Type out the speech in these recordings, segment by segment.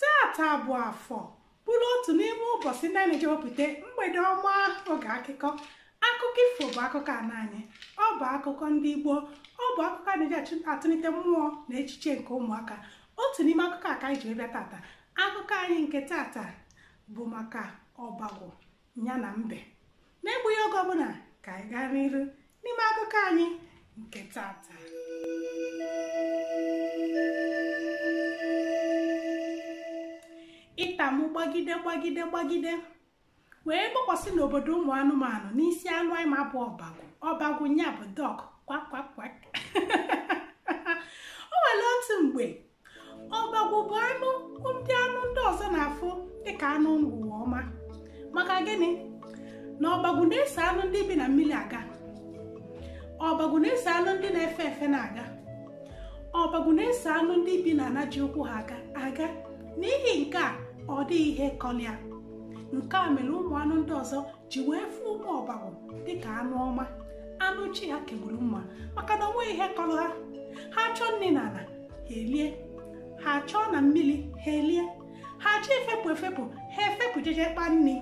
tata bụ afọ bụrụ otu n'ime ụbọchị ndị a na-eji wepụta mgbede ọma oge akụkọ akụkọ ifo bụ akụkọ ana anyị ọ bụ akụkọ ndị Igbo ọ bụ akụkọ a na-eji achụ- atụlite mmụọ na echiche nke ụmụaka otu n'ime akụkọ a ka anyị ji wee bịa tata akụkọ anyị nke tata bụ maka ọbagwụ ya na mbe n'egbughi oge ọbụla ka anyị gaa n'iru n'ime akụkọ anyị nke tata ita mụ gbagide gbagide gbagide wee gbakwasị n'obodo ụmụ anụmanụ n'isi anụ anyị ma bụ ọbagwụ ọbagwụ nya bụ duck kwak kwak kwak o nwere otu mgbe ọbagwụ bụ anụ ndị anụ ndị ọzọ na-afụ dịka anụ ụwa ọma maka gịnị na ọbagwụ na-eso anụ ndị bi na mmiri aga ọbagwụ na-eso anụ ndị na-efe efe na-aga ọbagwụ na-eso anụ ndị bi na ana ji ụkwụ ha aga aga n'ihi nke a ọ dịghị ihe kọlịa nke a mere ụmụ anụ ndị ọzọ ji wee fụ ụmụ ọbagwụ dịka anụ ọma anụ chi ha kegburu mma maka na onweghị ihe kọrọ ha ha chọọ nri na ana ha elie ha chọọ na mmiri ha elie ha chọọ efepụ efepụ ha efepụ jeje kpa nri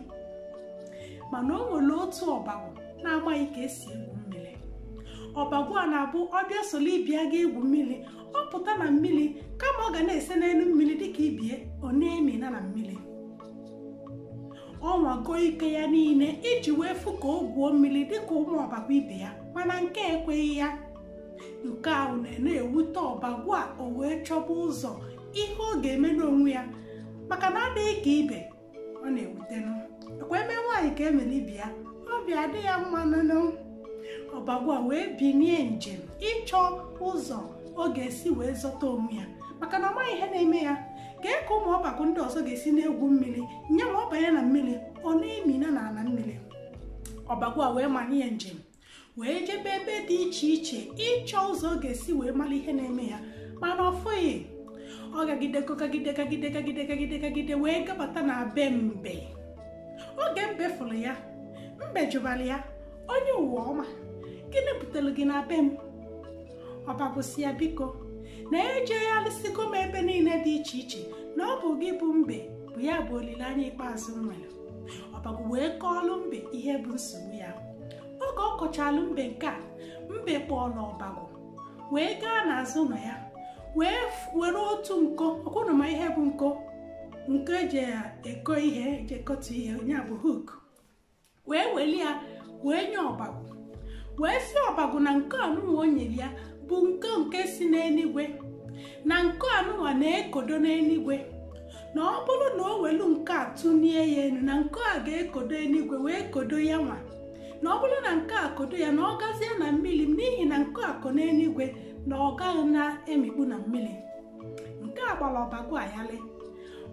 mana o nwere otu ọbagwụ na-amaghị ka esi egwu mmiri ọbagwụ a na-abụ ọ bịa solo ibe ya ga egwu mmiri ọ pụta na mmiri kama ọ ga na-ese n'elu mmiri dịka ibie ọ na-emina na mmiri ọ nwago ike ya niile iji wee fụ ka o gwuo mmiri dịka ụmụ ọbagwụ ibe ya mana nke ekweghị ya nke ahụ na-ewute ọbagwụ a o wee chọba ụzọ ihe ọ ga-eme n'onwe ya maka na adịghị ka ibe ọ na-ewutenụ ọ kwa e mee nwaanyị ka e mere ibe ya obi adị ya mma nnụnụ ọbagwụ a wee binie njem ịchọ ụzọ ọ ga-esi wee zọta onwe ya maka na ọ maghị ihe na-eme ya kee ka ụmụ ọbakụ ndị ọzọ ga-esi na-egwu mmiri nye ma ọ banye na mmiri ọ na-emina na ala mmiri ọbagụ a wee manye ya njem wee jebe ebe dị iche iche ịchọ ụzọ ọ ga-esi wee mara ihe na-eme ya mana ọ fụghị ọ gagide kagide kagide kagide kagide kagide wee gabata na be mbe oge mbe fụrụ ya mbe jụbara ya onye ụwa ọma gịnị butere gị na be m ọbagwụ sị ya biko na ejegharịsịgo m ebe niile dị iche iche na ọ bụ gị bụ mbe bụ ya bụ olileanya ikpeazụ m nwere ọbagwụ wee kọọlụ mbe ihe bụ nsogbu ya oge ọ kọchalụ mbe nke a mbe kpọọlụ ọbagwụ wee gaa n'azụ ụnọ ya wee were otu nko ọ kwa ụnụ ma ihe bụ nko nko eji eko ihe eji ekotu ihe ọ nya bụ hook wee weli ya wee nye ọbagwụ wee sị ọbagwụ na nke anụnwa o nyere ya bụ nke nke si n'eluigwe na nke anụnwa na-ekodo n'eluigwe na ọ bụrụ na o welu nke a tụnie ya elu na nke a ga-ekodo eluigwe wee kodo ya nwa na ọ bụrụ na nke a kodo ya na ọ gazie na mmiri n'ihi na nke a ko n'eluigwe na ọ gaghị na-emikpu na mmiri nke a gbara ọbagwụ a yalị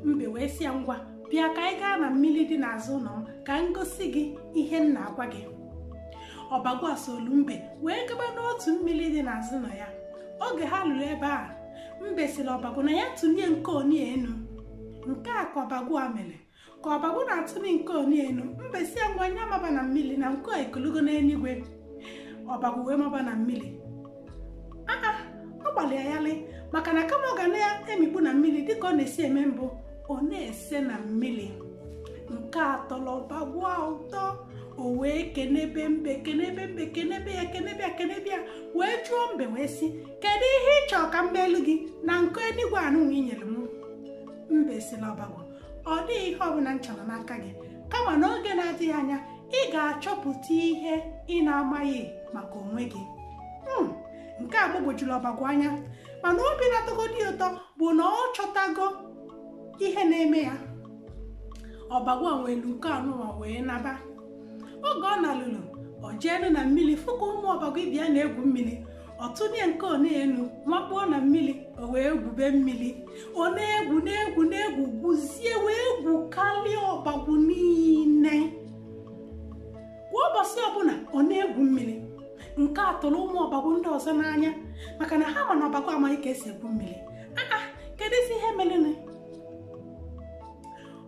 mbe wee sị ya ngwa bịa ka anyị gaa na mmiri dị n'azụ ụlọ m ka m gosi gị ihe m na-agwa gị ọbagwụ a solu mbe wee gaba n'otu mmiri dị n'azụ ụlọ ya oge ha luru ebe a mbe sịrị ọbagwụ na ya tụnie nke oni enu nke a ka ọbagwụ a mere ka ọbagwụ na-atụni nke oni enu mbe sị ya ngwa nya maba na mmiri na nke a ekolugo n'eluigwe ọbagwụ wee maba na mmiri ọ gbalị ya yalị maka na kama ọ ga na-emikpu na mmiri dịka ọ na-esi eme mbụ ọ na-ese na mmiri nke a tọlụ ọbagwụ a ụtọ o wee kenebe mbe kenebe mbe kenebe ya kenebe ya kenebe ya wee jụọ mbe wee sị kedu ihe ị chọọ ka m meelu gị na nke enigwe anụnwa i nyere m mbe sị na ọbagwụ ọ dịghị ihe ọbụla m chọrọ n'aka gị kama n'oge na-adịghị anya ị ga-achọpụta ihe ị na-amaghị maka onwe gị hmm, nke a gbagwojuru ọbagwụ anya mana obi na-atọgodị ụtọ bụ na ọ chọtago ihe na-eme ya ọbagwụ a welu nke anụnwa wee naba oge ọ nalulu o jeenu na mmiri fụ ka ụmụ ọbagwụ ibe ya na-egwu mmiri ọ tụnie nke oni enu makpuo na mmiri o wee gwube mmiri ọ na-egwu na-egwu na-egwu gwuzie wee gwukarịa ọbagwụ niile kwa ụbọchị ọbụla ọ na-egwu mmiri nke a tụrụ ụmụ ọbagwụ ndị ọzọ n'anya maka na ha ma na ọbagwụ amaghị ka e si egwu mmiri aa keduzi ihe merenụ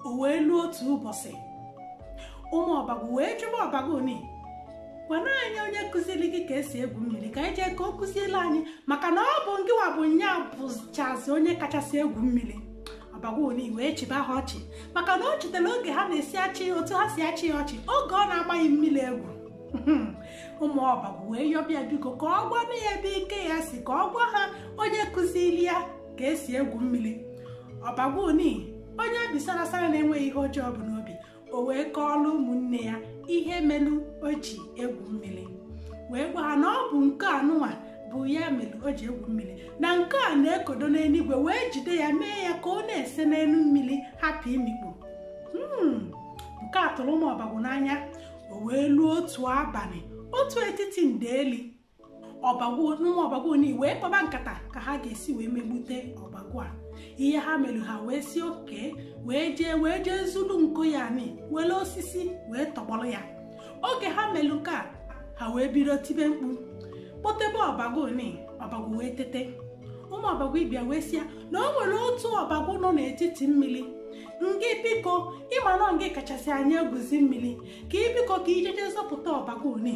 o wee luo otu ụbọchị ụmụ ọbagwụ wee jụba ọbagwụ ni gwanụ anyị onye kụziri gị ka e si egwu mmiri ka anyị jee ka ọ kụziele anyị maka na ọ bụ ngịwa bụ nya bụchazi onye kachasị egwu mmiri ọbagwụ ni wee chịba ha ọchị maka na o chetara oge ha na-esi achị otu ha si achị ya ọchị oge ọ na-amaghị mmiri egwu ụmụ ọbagwụ wee yọba ya biko ka ọ gwanụ ha ebe ike ya si ka ọ gwa ha onye kụziri ya ka e si egwu mmiri ọbagwụ ni onye obi sarasara na-enweghị ihe ọjọọ o bu n'obi o wee kọọlụ ụmụnne ya ihe melu o ji egwu mmiri wee gwa ha na ọ bụ nke anụnwa bụ ya mere o ji egwu mmiri na nke a na-ekodo n'eluigwe wee jide ya mee ya ka ọ na-ese n'elu mmiri hapụ imikpu Hmm, nke a tụrụ ụmụ ọbagwụ n'anya o wee luo otu abalị otu etiti ndeeli ụmụ ọbagwụ ni wee kpaba nkata ka ha ga-esi wee megbute ọbagwụ a ihe ha mere ha wee sị okay wee jee zuru nkụ ya ni were osisi wee tọgbọrọ ya oge ha mere nke a ha wee bido tibe mkpu kpọtebe ọbagwụ ni ọbagwụ wee tete ụmụ ọbagwụ ibe ya wee sị ya na o nwere otu ọbagwụ nọ n'etiti mmiri ngị biko ị ma na ngị kachasị anyị egwuzi mmiri ka ị biko ka i jeje zọpụta ọbagwụ ni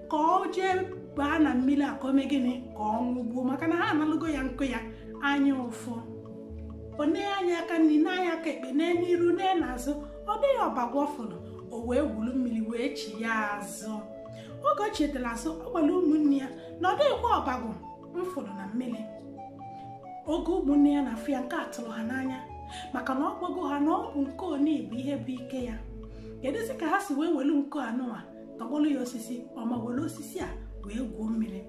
ka ọ jee baa na mmiri a ka o mee gịnị ka ọ nwụgbuo maka na ha analụgo ya nkụ ya anya ụfụ o nee anya aka nri nee anya aka ekpe nee n'iru nee n'azụ ọ dịghị ọbagwụ ọ fụrụ o wee gwuru mmiri wee chighaa azụ oge o chighatara azụ ọ gwara ụmụnne ya na ọ dịghịkwa ọbagwụ m fụrụ na mmiri oge ụmụnne ya na-afụ ya nke a tụrụ ha n'anya maka na ọ gwago ha na ọ bụ nkụ oni bụ ihe bụ ike ya kedụzi ka ha si wee welu nkụ anụwa tọgbọlụ ya osisi ọ ma were osisi a wee gwuo mmiri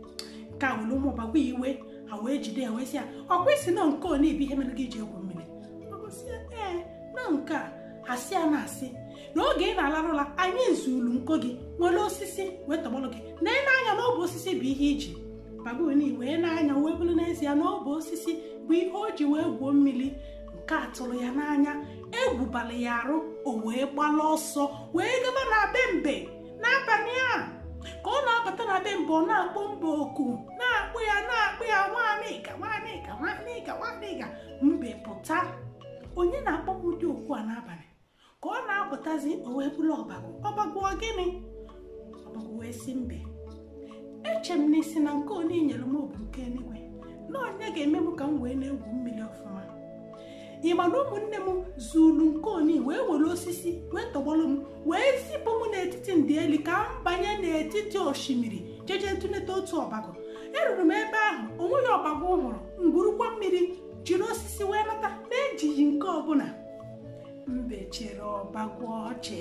nke a were ụmụ ọbagwụ a iwe ha wee jide ya wee sị ya ọ kwa ị sị na nkụ oni bụ ihe mere gị ji egwu mmiri ọ bụ sị ya ee na nke a a sị ya na asị n'oge ị na-alarụ ụla anyị zuru nkụ gị were osisi wee tọgbọrọ gị na ị nee anya na ọ bụ osisi bụ ihe i ji ọbagwụ wee nee anya wee bụrụ n'ezie na ọ bụ osisi bụ ihe o ji wee gwuo mmiri nke a tụrụ ya n'anya egwu bala ya arụ o wee gbala ọsọ wee gaba na be mbe n'abalị a ka ọ na-abata na be mbe ọ na-akpọ mbe oku na-akpọ ya na-akpọ ya nwanịga nwanịga nwanịga nwanịga mbe pụta onye na-akpọ m ụdị oku a n'abalị ka ọ na-apụtazi o wee bụrụ ọbagwụ ọbagwụ ọ gịnị ọbagwụ wee sị mbe eche m na ị sị na nkụ oni nyere m ọ bụ nke eluigwe na ọ ya ga-eme m ka m wee na-egwu mmiri ọfụma ị ma na ụmụnne m zuru nkụ oni wee were osisi wee tọgbọrọ m wee zipụ m n'etiti ndeeli ka m banye n'etiti osimiri jeje tụleta otu ọbagwụ eruru m ebe ahụ o nweghị ọbagwụ m hụrụ m gwurukwa mmiri jiri osisi wee nata na-ejighị nkụ ọbụla mbe chịrị ọbagwụ ọchị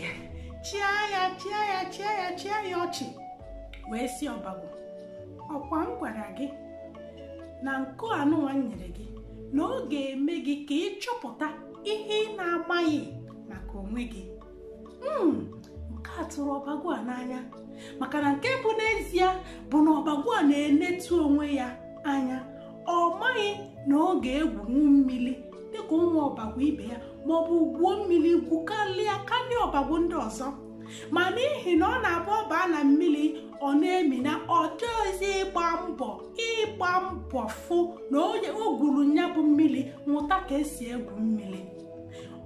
chịa ya chịa ya chịa ya chịa ya ọchị wee sị ọbagwụ ọ kwa m gwara gị na nkụ anụwa m nyere gị na ọ ga-eme gị ka ị chọpụta ihe ị na-amaghị maka onwe gị Mm, nke a tụrụ ọbagwụ a n'anya maka na nke bụ n'ezie bụ na ọbagwụ a na-enetu onwe ya anya ọ maghị na ọ ga-egwunwu mmiri dịka ụmụ ọbagwụ ibe ya ma ọ bụ gwuo mmiri gwukarịa karịa ọbagwụ ndị ọzọ ma n'ihi na ọ na-abụ ọ baa na mmiri ọ na-emina ọ chọghịzi ịgba mbọ ịgba mbọ fụ na onye o gwuru nya bụ mmiri mụta ka esi egwu mmiri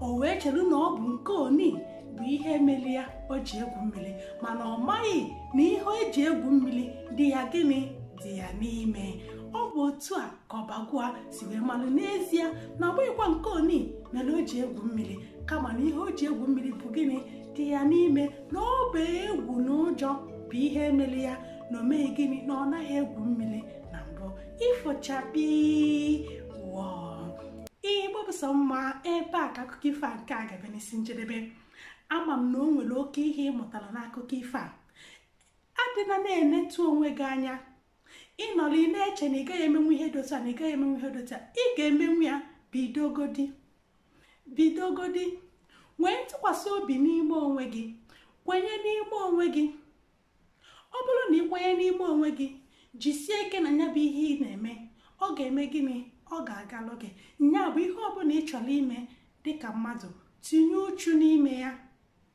o wee chere na ọ bụ nke oni bụ ihe mere ya o ji egwu mmiri mana ọ maghị na ihe o ji egwu mmiri dị ya gịnị dị ya n'ime ọ bụ otu a ka ọbagwụ a si wee malụ n'ezie na ọ bụghịkwa nke oni mere o ji egwu mmiri kama na ihe o ji egwu mmiri bụ gịnị dị ya n'ime na ọ bụ egwu na ụjọ bụ ihe mere ya na o meghị gịnị na ọ naghị egwu mmiri na mbụ ifo chakpii wọọ igbo bụ sọ mma ebe a ka akụkọ ifo a nke a ga-abịa n'isi njedebe ama m na o nwere oke ihe ị mụtara n'akụkọ ifo a adịna na-enetu onwe gị anya ị nọrọ ị na-eche na ị gaghị emenwu ihe dị otu a na ị gaghị emenwu ihe dị otu a ị ga-emenwu ya bidogodi bidogodi nwee ntụkwasị obi n'ime onwe gị kwenye n'ime onwe gị ọ bụrụ na ị kwenye n'ime onwe gị jisie ike na ya bụ ihe ị na-eme ọ ga-eme gịnị ọ ga-agalụ gị nya bụ ihe ọbụla ị chọrọ ime dịka mmadụ tinye uchu n'ime ya